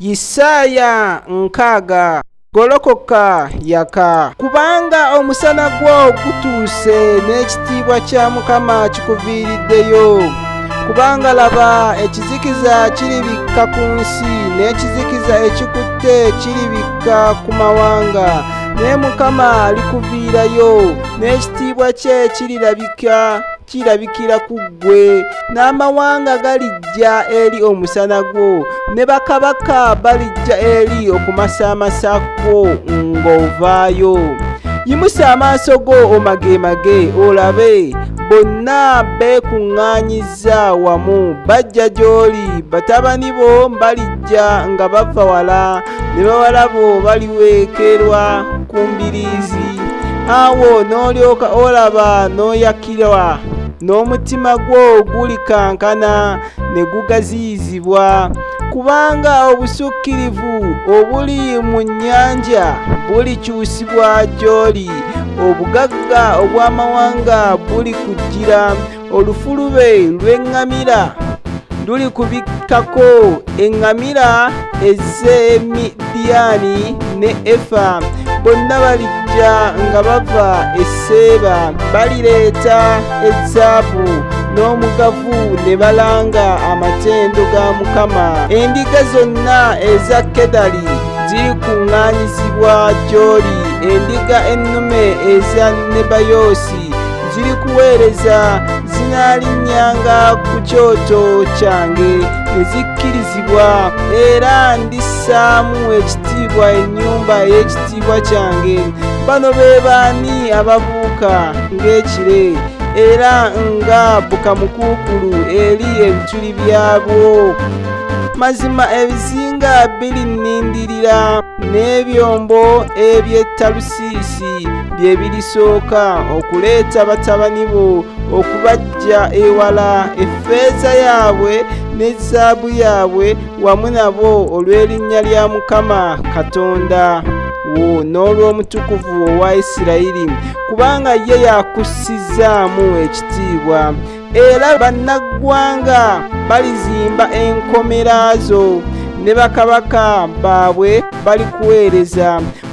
Yisaaya nkaaga golokoka yaka kubanga omusana gwo gutuuse n'ekitiibwa kya mukama kikuviiriddeyo kubanga laba ekizikiza kiribikka ku nsi n'ekizikiza ekikutte kiribikka ku mawanga naye mukama alikuviirayo n'ekitiibwa kye kirirabika kirabikira ku ggwe n'amawanga galijja eri omusana gwo ne bakabaka balijja eri okumasaamasa kwo ng'ovaayo yimusa amaaso go omageemage olabe bonna beekuŋŋaanyiza wamu bajja gy'oli batabani bo balijja nga bava wala ne bawala bo baliweekerwa ku mbiriizi awo n'olyoka olaba n'oyakirwa n'omutima gwo gulikankana ne gugaziyizibwa kubanga obusukkirivu obuli mu nnyanja bulikyusibwa gy'oli obugagga obw'amawanga bulikujjira olufulube lw'eŋŋamira lulikubikkako eŋŋamira ez'e midiyaani ne efa bonna balijja nga bava e seeba balireeta ezaabu n'omugavu ne balanga amatendo ga mukama endiga zonna eza kedali zirikuŋŋaanyizibwa gy'oli endiga ennume eza nebayoosi ziri kuweereza zinaalinnyanga ku kyoto kyange ne zikkirizibwa era ndissaamu ekitiibwa ennyumba ey'ekitiibwa kyange bano be baani ababuuka ng'ekire era nga bukamukuukulu eri ebituli byabwo mazima ebizinga biri nnindirira n'ebyombo eby'ettalusa siisi bye birisooka okuleeta batabani bo okubajja ewala effeeza yaabwe ne zaabu yaabwe wamu nabo olw'erinnya lya mukama katonda wo n'olw'omutukuvu owa isirayiri kubanga ye yakussizaamu ekitiibwa era bannaggwanga balizimba enkomera zo ne bakabaka baabwe balikuweereza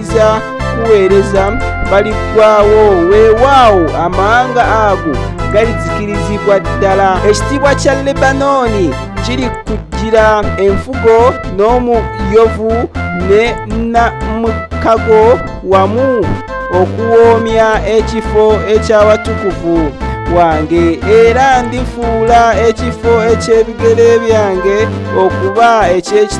bakkiriza kuweereza baliggwawo weewaawo amawanga ago galizikirizibwa ddala ekitiibwa kya lebanooni kiri kujjira enfugo n'omuyovu ne namukago wamu okuwoomya ekifo eky'abatukuvu wange era ndifuula ekifo eky'ebigere byange okuba eky'ekiti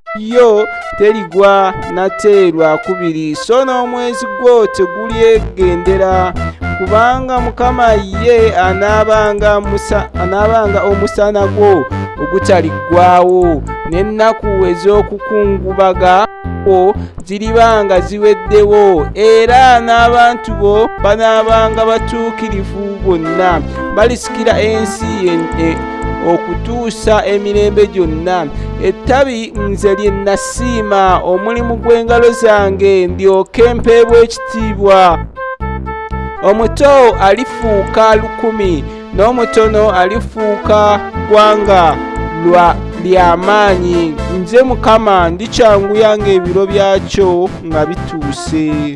yo terigwa nate lwakubiri so n'omwezi gwo tegulyegendera kubanga mukama ye anaabanga omusana gwo ogutaliggwawo n'ennaku ez'okukungubaga kwo ziribanga ziweddewo era n'abantu bo banaabanga batuukirivu bonna balisikira ensi e, okutuusa emirembe gyonna ettabi nze lye nasiima omulimu gw'engalo zange ndyoke mpeebwa ekitiibwa omuto alifuuka lukumi n'omutono alifuuka ggwanga lwa ly'amaanyi nze mukama ndikyanguya ng'ebiro byakyo nga bituuse